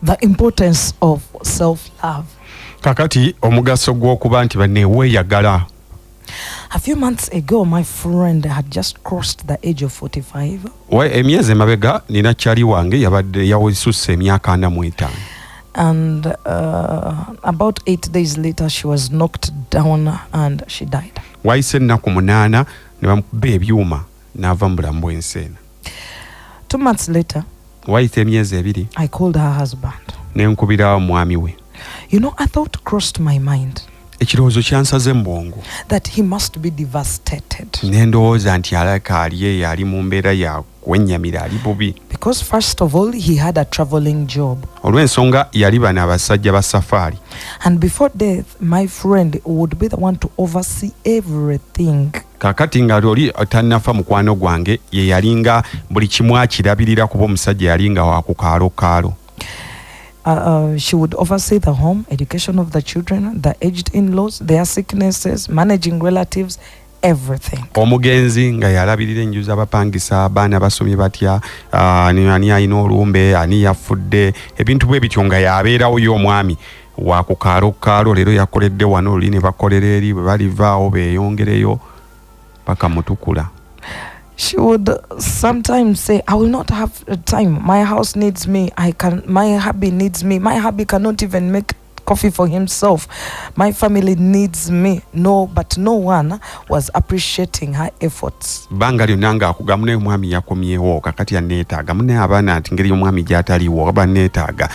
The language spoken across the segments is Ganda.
The importance of self love. Kakati omugaso gw'okuba nti banne weeyagala. A few months ago my friend had just crossed the age of 45. Wa emyezi emabega nina chali wange yabadde yawisusse emyaka ana mu etaano. And uh, about eight days later she was knocked down and she died. Wayise ennaku munaana ne bamukuba ebyuma. n'ava mu bulamu bw'ensi eno two months later wayita emyezi ebiri i called her husband ne nkubira omwami we you know i thought crossed my mind ekirowoozo kyansaze mu bwongo that he must be devastated ne ndowooza nti alaka ali eyo ali mu mbeera ya kwennyamira ali bubi because first of all he had a traveling job olw'ensonga yali bana abasajja ba safaari and before death my friend would be the one to oversee everything kakati nga oli tanafa mukwano gwange ye yalinga buli kimu akirabirira kuba omusajja yalinga wakukaalo kaalo Uh, uh, she would oversee the home, education of the children, the aged in laws, their sicknesses, managing relatives, everything. Omugenzi nga yalabirira enju z'abapangisa abaana basomye batya uh, ani alina olumbe ani yafudde ebintu bwe bityo nga yabeerawo yo omwami wa ku kaalo kaalo leero yakoledde wano luli ne bakolera eri bwe balivaawo beeyongereyo paka mutukula She would sometimes say, I will not have time. My house needs me. I can my hubby needs me. My hubby cannot even make coffee for himself. My family needs me. No, but no one was appreciating her efforts. Banga lyonna ng'akugamba naye omwami yakomyewo kakati yanneetaaga mune abaana nti ngeri omwami gy'ataliwo aba nneetaaga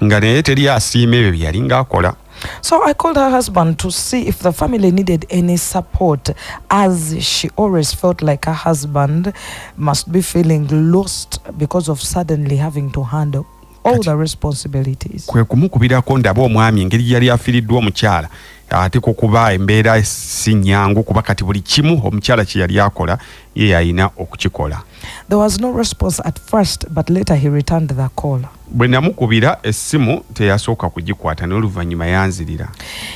nga naye teri asiima ebyo bye yali ng'akola So I called her husband to see if the family needed any support, as she always felt like her husband must be feeling lost because of suddenly having to handle all the responsibilities. kwe kumukubirako ndaba omwami engeri gye yali afiiriddwa omukyala ate ku kuba embeera si nnyangu kuba kati buli kimu omukyala kye yali akola ye yalina okukikola There was no response at first, but later he returned the call. bwe namukubira essimu teyasooka kugikwata naye oluvannyuma yanzirira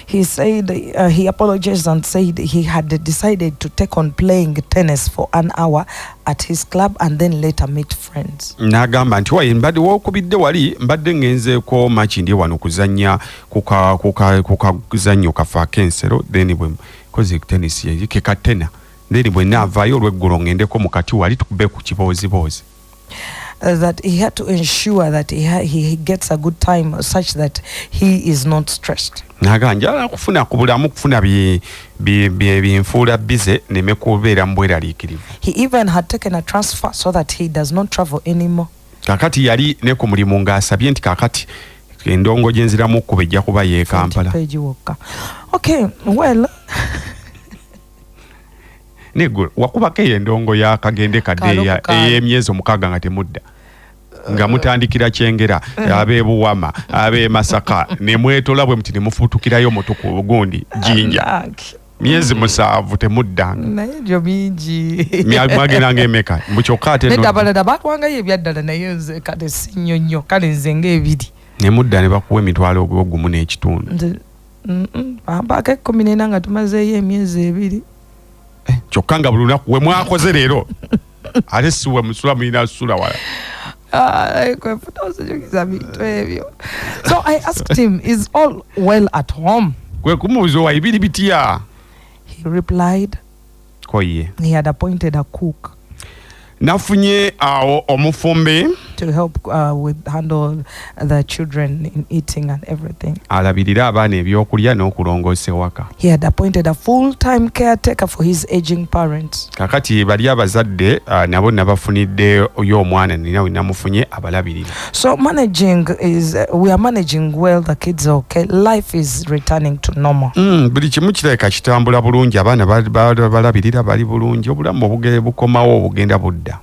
he said uh, he apologized and said he had decided to take on playing tennis for an hour at his club and then later meet friends n'agamba nti waye mbadde wokubidde wali mbadde ngenzeeko maki ndi wano kuzannya kukazannyo kafe ak'ensero then bwe koze tennis yekekatena then bwe naavaayo olweggulo ngendeko mukati wali tukube ku kibooziboozi uh, that he had to ensure that he, ha- he gets a good time such that he is not stressed. naga njala kufuna ku bulamu kufuna bi- bi- bi- binfuula bize neme kubeera mu bweraliikirivu He even had taken a transfer so that he does not travel anymore. kakati yali ne ku mulimu ng'asabye nti kakati endongo gye nziramu okkuba ejja kuba y'e kampala Page Walker. Okay, well, naye gwe wakubako eyo endongo ya kagende kadeeya ey'emyezi omukaaga nga temudda nga mutandikira kyengera eh. abebuwama abemasaka nemwetola bwe muti nemufutukirayo mutuku gundi jinja myezi musanvu temuddanga naye ebyo bingi mwageranga emeka mbu kyokka ate nedda abalala batwangayo ebyaddala naye nze kale sinnyo nnyo kale nze ngaebiri nemudda ne bakuwa emitwalo ogwogumu n'ekitundu bampaako ekkumi nena nga tumazeeyo emyezi ebiri eh, kyokka nga buli lunaku we mwakoze leero ate siwe musula mulina sula wala kwefuta ozijukiza bintu ebyo so i asked him is all well at home kwe kumubuuza owa ibiri bitya he replied ko ye He had appointed a cook nafunye awo omufumbi to help uh, with handle the children in eating and everything. alabirira abaana ebyokulya n'okulongoosa ewaka He had appointed a full-time caretaker for his aging parents. kakati bali abazadde ah, nabo nabafuniddeyo omwana nina we namufunye abalabirira So managing is uh, we are managing well the kids okay life is returning to normal. Mm, buli kimu kirabika kitambula bulungi abaana balabirira bali bulungi obulamu obugere bukomawo obugenda budda.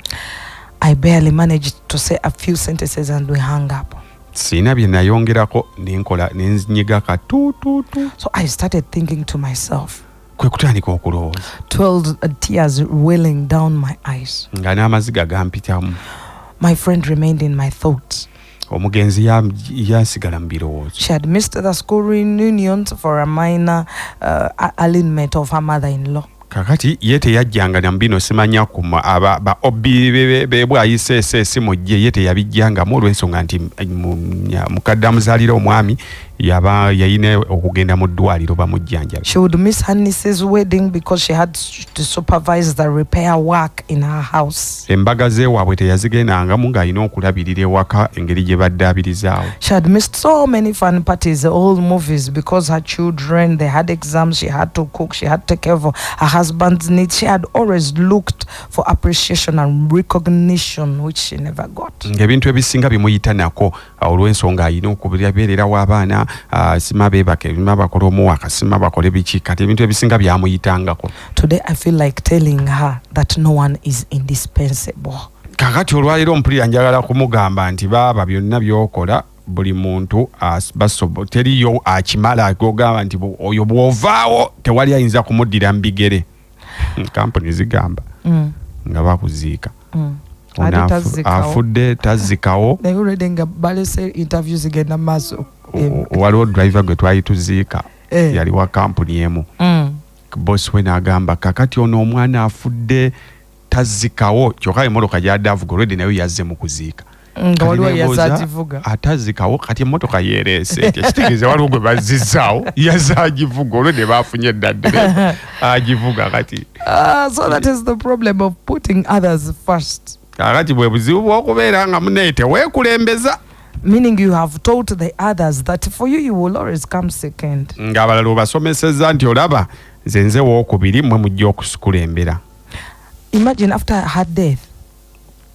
I barely managed to say a few sentences and we hung up. Sina bye nayongerako nenkola nenzinyiga ka tu tu tu. So I started thinking to myself. kwe kutandika okulowooza nga n'amaziga gampitamu my friend remained in my thoughts omugenzi yasigala mu birowoozo she had missed the school reunions for a minor uh, alignment of her mother in law kakati ye teyajjanga na bino simanya ku aba ba obi bebwayise esimu gye ye teyabijjangamu olw'ensonga nti eh, mukadde amuzaalira omwami yaba yayina okugenda mu ddwaliro bamujjanjabe she would miss her niece's wedding because she had to supervise the repair work in her house embaga zewaabwe teyazigendangamu ng'alina okulabirira ewaka engeri gye badde abirizaawo she had missed so many fun parties all movies because her children they had exams she had to cook she had to take care of her husband's needs she had always looked for appreciation and recognition which she never got ng'ebintu ebisinga bimuyita nako olw'ensonga alina okubeererawo abaana sima beebake bima bakola omuwaka sima bakole biki kati ebintu ebisinga byamuyitangako today i feel like telling her that no one is indispensable kakati olwaleero mpulira njagala kumugamba nti baaba byonna byokola buli muntu basobo teriyo akimala ogamba nti oyo bw'ovaawo tewali ayinza kumuddira mu bigere kampuni zigamba mm. nga bakuziika mm. afudde tazikawo nga balese interview zigenda maaso waliwo driver gwe twali tuziika eh. yali wa kampuni emu mm. bosi we nagamba kakati ono omwana afudde tazikawo kyoka emotoka gyadavuga olwedde nayo yazze mu kuziika nga waliwo yazagivuga atazikawo kati emotoka yereese etya kitegeeza waliwo gwe bazzizaawo yazagivuga olwe ne baafunye eddadde agivuga kati ah, so that is the problem of putting others first kakati bwe buzibu bw'okubeera nga munaye teweekulembeza meaning you have told the others that for you you will always come second ng'abalala obasomeseza nti olaba nze nze wookubiri mwe mujja okusikulembera imagine after her death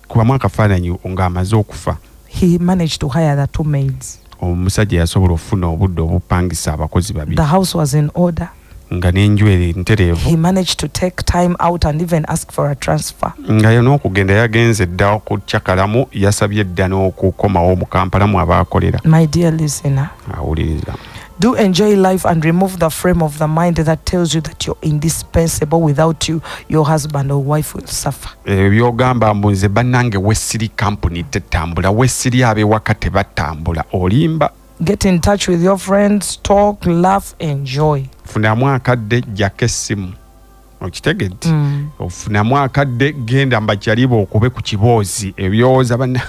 kubamu akafaananyi nga amaze okufa he managed to hire the two maids omusajja yasobola okufuna obudde obupangisa abakozi babiri the house was in order nga n'enju eri ntereevu he managed to take time out and even ask for a transfer nga yo n'okugenda yagenze dda okucakalamu yasabye dda n'okukomawo mu kampala mu abaakolera my dear listener awuliriza Do enjoy life and remove the frame of the mind that tells you that you're indispensable. Without you, your husband or wife will suffer. Eh, byogamba mbu nze banange wesiri kampuni tetambula wesiri abewaka tebatambula olimba get in touch with your friends talk laugh enjoy funamu akadde jjako essimu okitegedde mm. ofunamu akadde genda mbajaliba okube ku kiboozi ebyowoza bana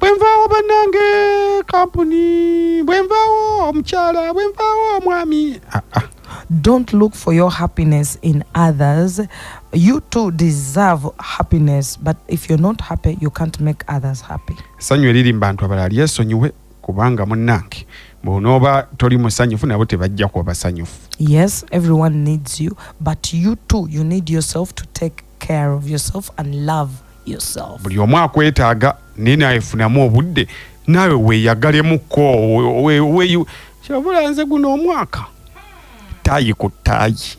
bwenvaawo banange kampuni bwenvaawo omukyala bwenvaawo omwami ah, ah. don't look for your happiness in others you too deserve happiness but if you're not happy you can't make others happy sanyu eriri mu bantu abalala lyesonyiwe kubanga munnange bwonooba toli musanyufu nabo tebajja kuba basanyufu yes everyone needs you but you too you need yourself to take care of yourself and love yourself buli omu akwetaaga naye nawe funamu obudde naawe weyagalemukko kyabula nze guno omwaka taayi ku taayi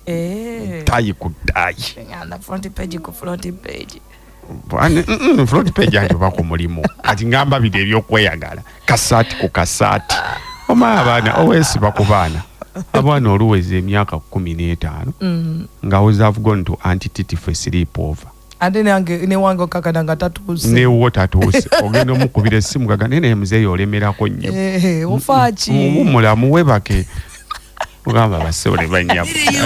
Eh. tayi ku tayi ng'anda front page ku front page front page anti oba ku mulimu kati ngamba bide ebyokweyagala kasaati ku kasaati oma abaana owesiba ku baana abaana oluweza emyaka kumi n'etaano mm. nga wozavgon to antitity fe sleep over ate nange newange okakana nga tatuuse newo tatuuse ogenda omukubira essimu gaga naye naye muzeeyi olemerako nnyo eh, eh, ofaaki mulamu webake ogamba basebole banyamu